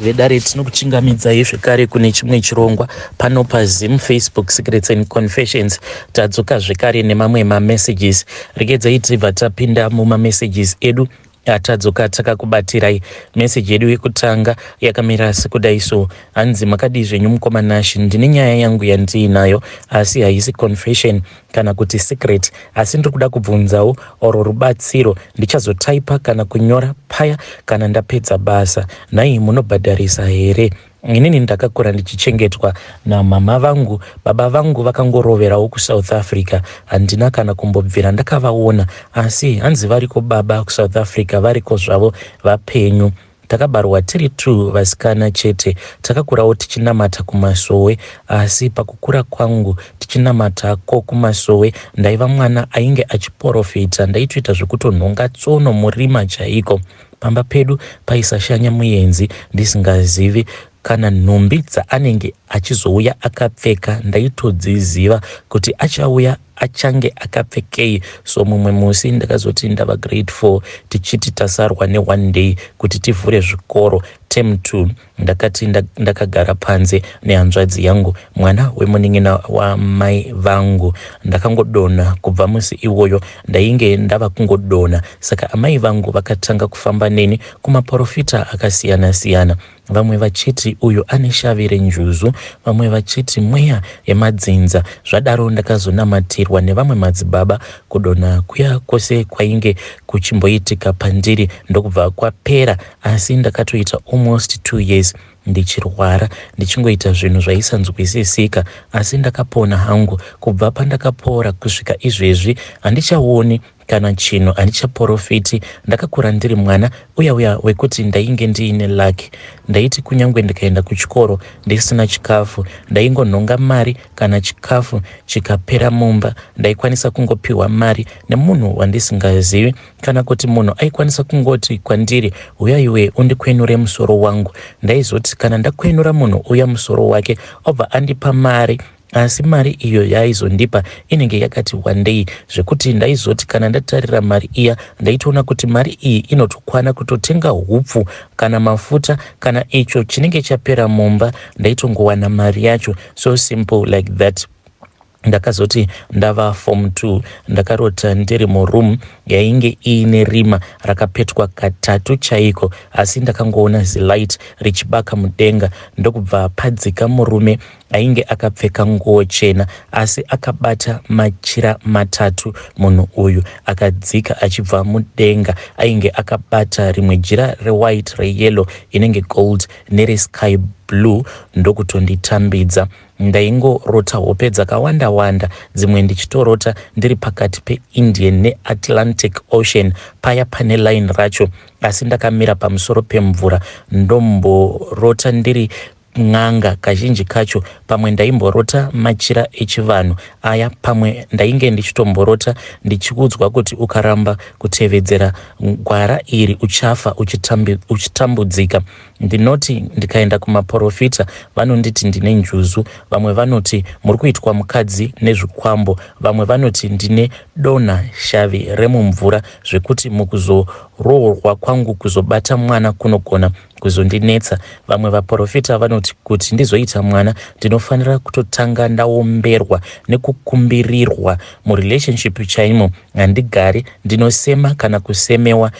vedare tinokuchingamidzai zvekare kune chimwe chirongwa pano pazim facebook secrets and confessions tadzoka zvekare nemamwe mamessages regedzai tibva tapinda mumamessages edu atadzoka takakubatirai meseji yedu yekutanga yakamira sekudai so hanzi makadii zvenyu mukoma nash ndine nyaya yangu yandiinayo asi haisi confession kana kuti secret asi ndiri kuda kubvunzawo or rubatsiro ndichazotaipa kana kunyora paya kana ndapedza basa nhai munobhadharisa here inini ndakakura ndichichengetwa namama vangu baba vangu vakangoroverawo kusouth africa handina kana kumbobvira ndakavaona asi hanzi variko baba kusouth africa variko zvavo vapenyu Takabarwa tiri two vasikana chete. Takakurawo tichinamata kumasowe asi pakukura kwangu tichinamata ko kumasowe ndaiva mwana ainge achiporofita ndaitoita zvekutonhonga tsono murima chaiko. Pamba pedu paisashanya muyenzi ndisingazivi Kana nhumbi dzaanenge achizouya akapfeka ndaitodziziva kuti achauya achange akapfekei so mumwe musi ndakazoti ndava grade 4 tichiti tasarwa ne one day kuti tivhure zvikoro term 2 ndakati ndakagara panze nehanzvadzi yangu mwana wemunin'ina wamai vangu ndakangodona kubva musi iwoyo ndainge ndava kungodona saka amai vangu vakatanga kufamba neni kumaporofita akasiyana siyana vamwe vachiti uyu ane shavi renjuzu, vamwe vachiti mweya yemadzinza. Zvadaro ndakazonamatirwa nevamwe madzibaba kudonha kuya kwose kwainge kuchimboitika pandiri ndokubva kwapera, asi ndakatoita almost two years ndichirwara ndichingoita zvinhu zvaisanzwisisika asi ndakapona hangu kubva pandakapora kusvika izvezvi handichaoni Kana chinhu handichaporofiti, ndakakura ndiri mwana uya uya wekuti ndainge ndiine luck. Ndaiti kunyangwe ndikaenda kuchikoro ndisina chikafu, ndaingonhonga mari kana chikafu chikapera mumba. Ndaikwanisa kungopiwa mari nemunhu wandisingazivi kana kuti munhu aikwanisa kungoti kwandiri uya iwe undikwenure musoro wangu. Ndaizoti kana ndakwenura munhu uya musoro wake obva andipa mari Asi mari iyo yaaizondipa inenge yakati wandei zvekuti ndaizoti kana ndatarira mari iya ndaitoona kuti mari iyi inotokwana kutotenga hupfu kana mafuta kana icho chinenge chapera mumba ndaitongowana mari yacho so simple like that ndakazoti ndava form two ndakarota ndiri muroom yainge iine rima rakapetwa katatu chaiko asi ndakangoona zilight richibaka mudenga ndokubva padzika murume Ainge akapfeka nguo chena asi akabata machira matatu munhu uyu akadzika achibva mudenga. Ainge akabata rimwe jira rewhite, reyellow, inenge gold neresky blue ndokutonditambidza. Ndaingorota hope dzakawanda wanda, dzimwe ndichitorota ndiri pakati peIndian neAtlantic Ocean paya pane line racho asi ndakamira pamusoro pemvura ndomborota ndiri n'anga kazhinji kacho pamwe ndaimborota machira echivanhu aya pamwe ndainge ndichitomborota ndichiudzwa kuti ukaramba kutevedzera gwara iri uchafa uchitambudzika ndinoti ndikaenda kumaporofita vanonditi ndine njuzu vamwe vanoti muri kuitwa mukadzi nezvikwambo vamwe vanoti ndine dona shavi remumvura zvekuti mukuzoroorwa kwangu kuzobata mwana kunogona kuzondinetsa vamwe vaprofita vanoti kuti ndizoita mwana ndinofanira kutotanga ndaomberwa nekukumbirirwa murelationship chaimo handigari ndinosema kana kusemewa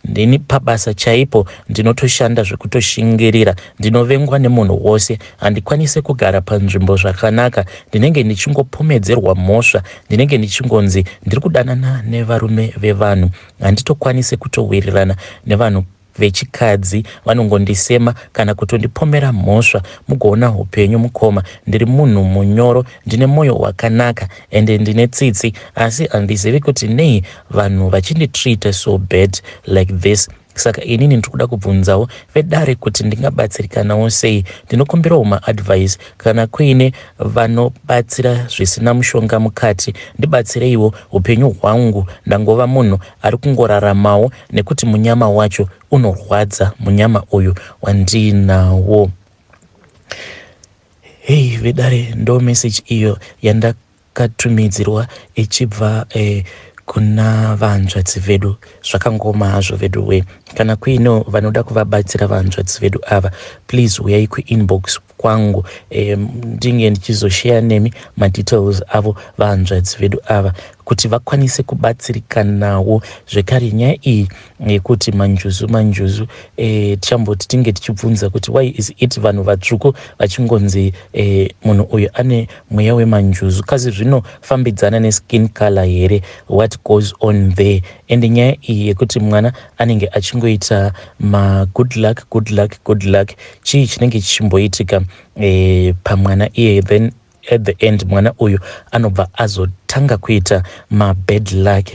ndini pabasa chaipo ndinotoshanda zvekutoshingirira ndinovengwa nemunhu wose handikwanise kugara panzvimbo zvakanaka ndinenge ndichingopomedzerwa mhosva ndinenge ndichingonzi ndiri kudanana nevarume vevanhu handitokwanise kutowirirana nevanhu vechikadzi vanongondisema kana kutondipomera mhosva mugoona hupenyu mukoma ndiri munhu munyoro ndine moyo wakanaka ende ndine tsitsi asi handizivi kuti nei vanhu vachinditreat so bad like this saka inini ndiri kuda kubvunzawo vedare kuti ndingabatsirikanawo sei ndinokumbirawo maadvice kana kuine vanobatsira zvisina mushonga mukati ndibatsireiwo upenyu hwangu ndangova munhu ari kungoraramawo nekuti munyama wacho unorwadza munyama uyu wandiinawo hei vedare ndo message iyo yandakatumidzirwa ichibva eh, kuna vanzvadzi vedu zvakangoma hazvo vedu we kana kuino vanoda kuvabatsira vanzvadzi vedu ava please uyai kuinbox kwangu um, ndinge ndichizosheya nemi madetails avo vahanzvadzi vedu ava kuti vakwanise kubatsirikanawo zvekare nyaya iyi yekuti manjuzu manjuzu e, tichamboti tinge tichibvunza kuti why is it vanhu vatsvuku vachingonzi e, munhu uyu ane mweya wemanjuzu kasi zvinofambidzana neskin color here what goes on there and nyaya iyi yekuti mwana anenge achingoita ma good luck good luck good luck chii chinenge chichimboitika e, pamwana iyeye then at the end mwana uyu anobva azotanga kuita ma bad luck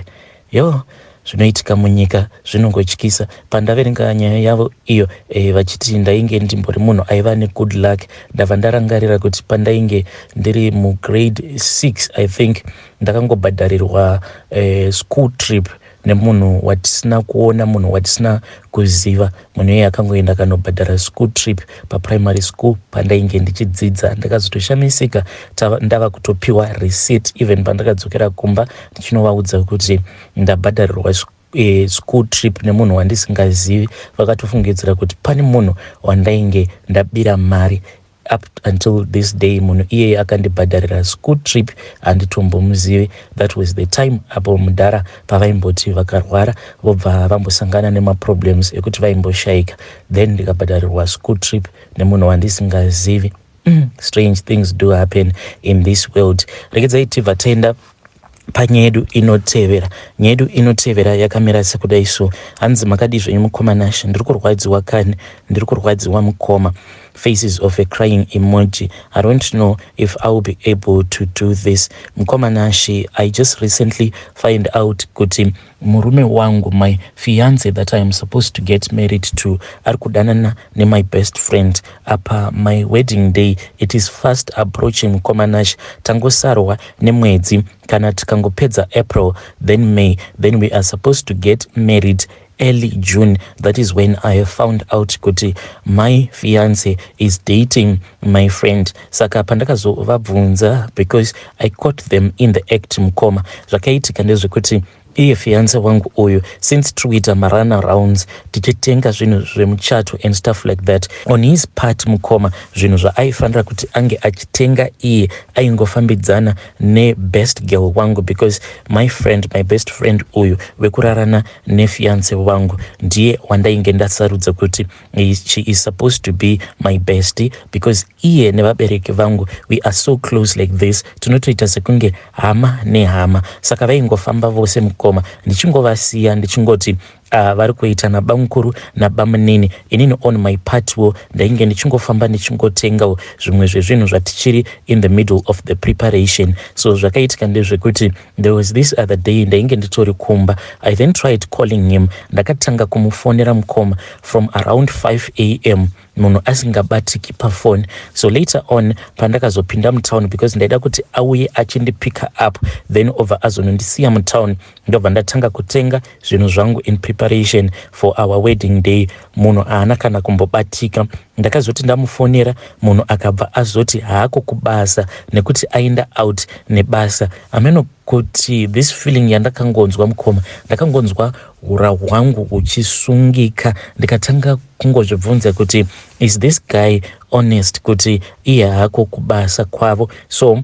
yo zvinoitika munyika zvinongotyisa pandaverenga nyaya yavo iyo e, vachiti ndainge ndimbori munhu aiva negood luck ndava ndarangarira kuti pandainge ndiri mugrade 6 i think ndakangobhadharirwa e, school trip nemunhu watisina kuona munhu watisina kuziva munhu iye akangoenda akanobhadhara school trip paprimary school pandainge ndichidzidza ndakazotoshamisika ndava kutopiwa receipt even pandakadzokera kumba ndichinovaudza kuti ndabhadharirwa e, school trip nemunhu wandisingazivi vakatofungidzira kuti pane munhu wandainge ndabira mari up until this day munhu iyeye akandibhadharira school trip handitombomuzivi that was the time apo mudhara pavaimboti vakarwara vobva vambosangana nemaproblems ekuti vaimboshaika then ndikabhadharirwa school trip nemunhu wandisingazivi mm, strange things do happen in this world rekedzai tibva tenda panyaya yedu inotevera nyaya yedu inotevera yakamira sekudai so hanzi makadii zvenyu mukoma nashe ndiri kurwadziwa kani ndiri kurwadziwa mukoma faces of a crying emoji i don't know if iwill be able to do this mukoma nashe i just recently find out kuti Murume wangu, my fiance that I am supposed to get married to, ari kudanana nemy best friend apa my wedding day it is fast approaching. Mukoma Nash, tangosarwa nemwedzi, kana tikangopedza April then May then we are supposed to get married early June. That is when I found out kuti my fiance is dating my friend saka pandakazovabvunza because i caught them in the act mukoma zvakaitika ndezvekuti iye fiance wangu uyu since tiri kuita marana rounds tichitenga zvinhu zvemuchato and stuff like that on his part mukoma zvinhu zvaaifanira kuti ange achitenga iye aingofambidzana nebest girl wangu because my friend my best friend uyu wekurarana nefiance wangu ndiye wandainge ndasarudza kuti she is supposed to be my bestie because iye nevabereki vangu we are so close like this tinotoita sekunge hama nehama saka vaingofamba vose mukoma ndichingovasiya ndichingoti uh, vari kuita nabamukuru nabamunini inini on my part wo ndainge ndichingofamba ndichingotengawo zvimwe zvezvinhu zvatichiri in the middle of the preparation so zvakaitika ndezvekuti There was this other day ndainge nditori kumba. I then tried calling him. Ndakatanga kumufonera mukoma from around 5 am munhu asingabatiki pafoni. So later on pandakazopinda mutown because ndaida kuti auye achindipika up then obva azonondisiya mutown ndobva ndatanga kutenga zvinhu zvangu in preparation for our wedding day. Munhu haana kana kumbobatika. Ndakazoti ndamufonera munhu akabva azoti haako kubasa nekuti ainda out nebasa. Ameno kuti this feeling yandakangonzwa mukoma ndakangonzwa hura hwangu huchisungika ndikatanga kungozvibvunza kuti is this guy honest kuti iye haako kubasa kwavo so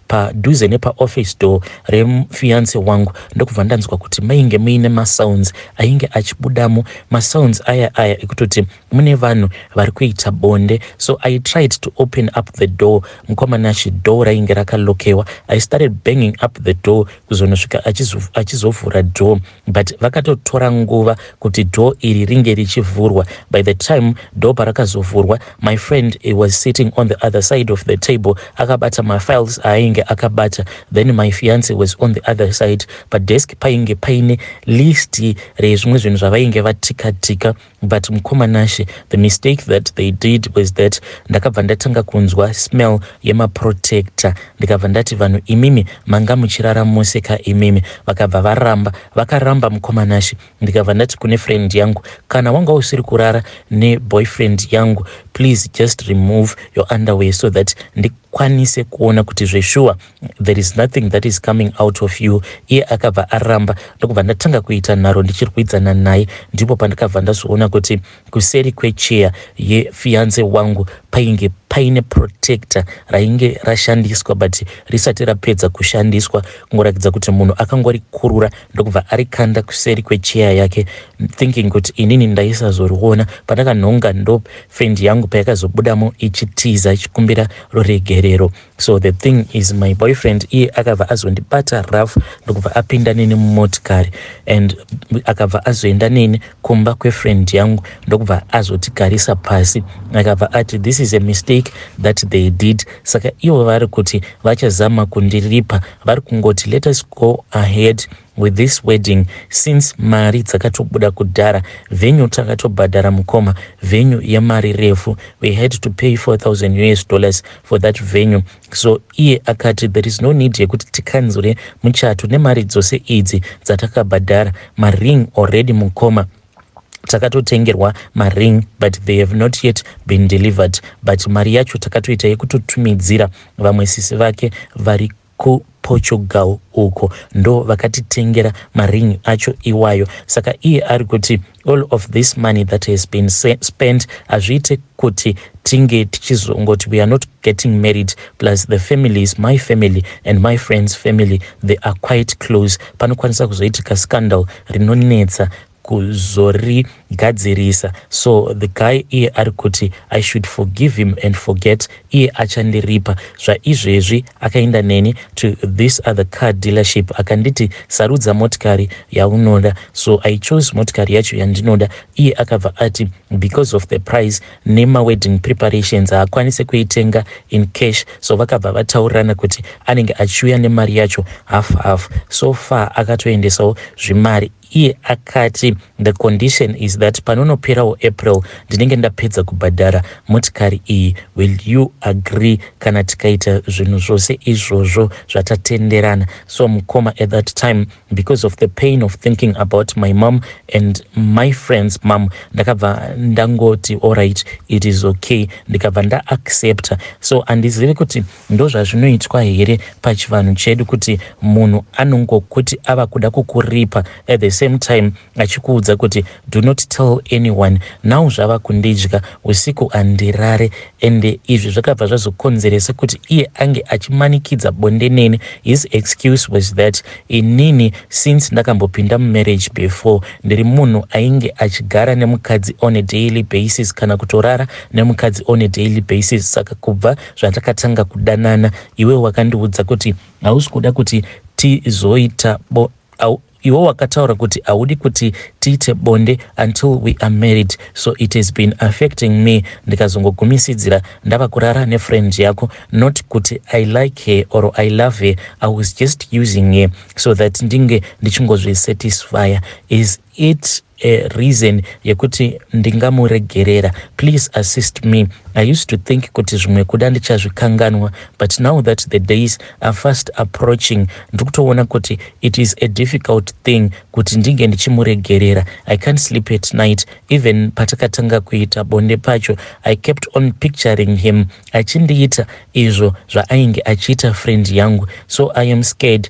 padhuze nepaoffice door refiance wangu ndokubva ndanzwa kuti mainge muine masounds ainge achibudamo masounds aya aya ekutoti mune vanhu vari kuita bonde so i tried to open up the door mukwamanashe door rainge rakalokewa i started banging up the door kuzonosvika achizovhura door but vakatotora nguva kuti door iri ringe richivhurwa by the time door parakazovhurwa my friend he was sitting on the other side of the table akabata mafiles aainge akabata then my fiance was on the other side padesk painge paine list rezvimwe zvinhu zvavainge vatika tika But mkoma Nashe, the mistake that they did was that ndakabva ndatanga kunzwa smell yemaprotector ndikabva ndati vanhu imimi manga muchirara mose ka imimi. Vakabva varamba, vakaramba mkoma Nashe ndikabva ndati kune friend yangu kana wanga usiri kurara neboyfriend yangu please just remove your underwear so that ndikwanise kuona kuti zveshuwa there is nothing that is coming out of you iye akabva aramba ndokubva ndatanga kuita nharo ndichirwidzana naye ndipo pandikabva ndazoona kuti kuseri kwecheya yefiance wangu painge paine protector rainge rashandiswa but risati rapedza kushandiswa kungoratidza kuti munhu akangorikurura ndokubva arikanda kuseri kwecheya yake thinking kuti inini ndaisazoriona pandakanhonga ndo fendi yangu payakazobudamo ichitiza ichikumbira ruregerero so the thing is my boyfriend iye akabva azondibata rough ndokubva apinda neni mumotikari and akabva azoenda neni kumba kwefriend yangu ndokubva azotigarisa pasi akabva ati this is a mistake that they did saka ivo vari kuti vachazama kundiripa vari kungoti let us go ahead with this wedding since mari dzakatobuda kudhara venue takatobhadhara mukoma venue yemari refu we had to pay 4000 us dollars for that venue so iye akati there is no need yekuti tikanzure muchato nemari dzose idzi dzatakabhadhara maring already mukoma takatotengerwa maring but they have not yet been delivered but mari yacho takatoita yekutotumidzira vamwe sisi vake vari kuPortugal uko ndo vakatitengera maring acho iwayo saka iye ari kuti all of this money that has been spent hazviite kuti tinge tichizongoti we are not getting married plus the families my family and my friends family they are quite close panokwanisa kuzoitika scandal rinonetsa kuzorigadzirisa so the guy iye ari kuti i should forgive him and forget iye achandiripa zvaizvezvi akaenda neni to this other car dealership akanditi sarudza motikari yaunoda so i chose motikari yacho yandinoda iye akabva ati because of the price nemawedding preparations haakwanise kuitenga in cash so vakabva vataurirana kuti anenge achiuya nemari yacho half half so far akatoendesawo zvimari Iye akati, The condition is that panonoperawo April ndinenge ndapedza kubhadhara motikari iyi. Will you agree kana tikaita zvinhu zvose izvozvo zvatatenderana? So mukoma at that time because of the pain of thinking about my mom and my friend's mom ndakabva ndangoti alright it is okay ndikabva ndaaccepta. So handizivi kuti Ndozvazvinoitwa here pachivanhu chedu kuti munhu anongokuti ava kuda kukuripa at the same time achikuudza kuti do not tell anyone now zvava kundidya usiku handirare and izvi zvakabva zvazokonzeresa kuti iye ange achimanikidza bonde neni his excuse was that inini since ndakambopinda mumarriage before ndiri munhu ainge achigara nemukadzi on a daily basis kana kutorara nemukadzi on a daily basis saka kubva zvatakatanga kudanana iwe wakandiudza kuti hausi kuda kuti tizoita bo au, iwe wakataura kuti haudi kuti tiite bonde until we are married so it has been affecting me ndikazongogumisidzira ndava kurara nefriend yako not kuti i like her or i love her i was just using her so that ndinge ndichingozvisatisfya is it a reason yekuti ndingamuregerera please assist me i used to think kuti zvimwe kuda ndichazvikanganwa but now that the days are fast approaching ndiri kutoona kuti it is a difficult thing kuti ndinge ndichimuregerera i can't sleep at night even patakatanga kuita bonde pacho i kept on picturing him achindiita izvo zvaainge achiita friend yangu so i am scared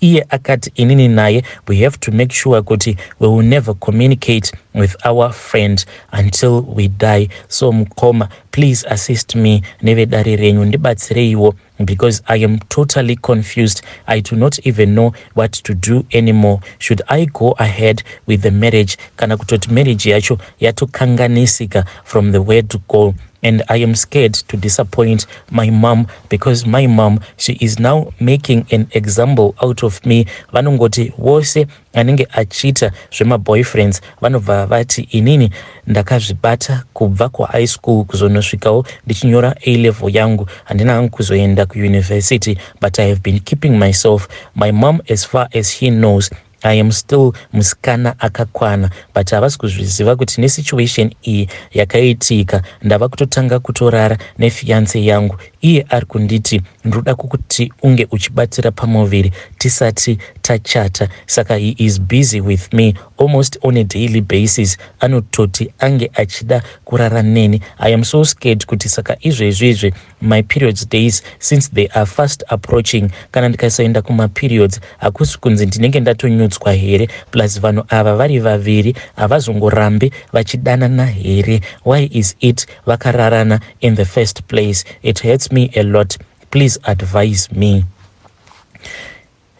Iye akati inini naye we have to make sure kuti we will never communicate with our friend until we die so mukoma please assist me nevedare renyu ndibatsireiwo because i am totally confused i do not even know what to do anymore should i go ahead with the marriage kana kutoti marriage yacho yatokanganisika from the word go and i am scared to disappoint my mom because my mom she is now making an example out of me vanongoti wose anenge achiita zvemaboyfriends vanobva vati inini ndakazvibata kubva kuhigh school kuzonosvikawo ndichinyora a level yangu handina hangu kuzoenda kuuniversity but i have been keeping myself my mom as far as she knows I am still musikana akakwana but havasi kuzviziva kuti nesituation iyi yakaitika ndava kutotanga kutorara nefiance yangu iye ari kunditi ndinoda kukuti unge uchibatira pamuviri tisati tachata saka he is busy with me almost on a daily basis anototi ange achida kurara neni i am so scared kuti saka izvezvi izvi my periods days since they are fast approaching kana ndikasaenda kumaperiods hakusi kunzi ndinenge ndatonyudzwa here plus vanhu ava vari vaviri havazongorambi vachidanana here why is it vakararana in the first place it hurts me a lot please advise me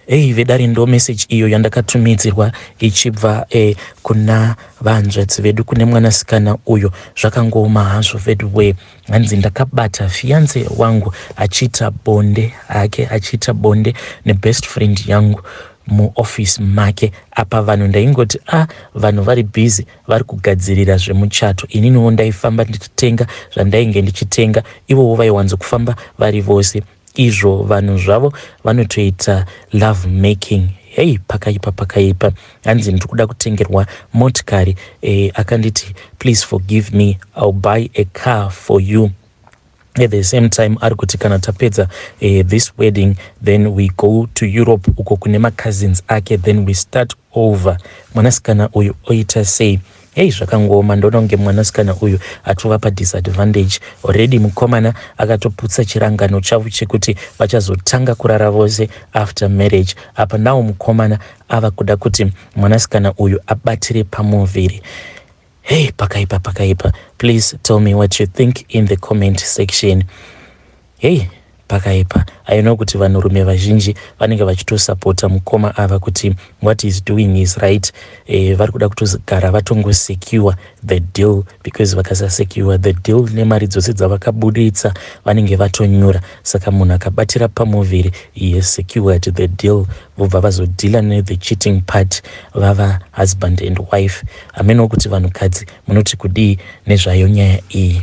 Hey vedare ndo message iyo yandakatumidzirwa ichibva eh, kuna vanzvadzi vedu kune mwanasikana uyo zvakangooma hazvo veduwee hanzi ndakabata fiance wangu achiita bonde hake achiita bonde nebest friend yangu muoffice make apa vanhu ndaingoti a ah, vanhu vari busy vari kugadzirira zvemuchato ininiwo ndaifamba ndichitenga zvandainge ndichitenga ivowo vaiwanzo kufamba vari vose izvo vanhu zvavo vanotoita love making hei pakaipa pakaipa hanzi ndiri kuda kutengerwa motikari eh, akanditi please forgive me ill buy a car for you at the same time ari kuti kana tapedza eh, this wedding then we go to europe uko kune macousins ake then we start over mwanasikana uyu oita sei Hey zvakangooma ndoona kunge mwanasikana uyu atova padisadvantage already mukomana akatoputsa chirangano chavo chekuti vachazotanga kurara vose after marriage apa nawo mukomana ava kuda kuti mwanasikana uyu abatire pamuviri hey pakaipa pakaipa please tell me what you think in the comment section Hey, pakaipa i know kuti vanhurume vazhinji vanenge vachitosapota mukoma ava kuti what is doing is right e, vari kuda kutogara vatongosecure the deal because vakasasecure the deal nemari dzose dzavakabuditsa vanenge vatonyura saka munhu akabatira pamuviri iye secured the deal vobva vazodhila nethe cheating part vava husband and wife hamenowo kuti vanhukadzi munoti kudii nezvayo nyaya iyi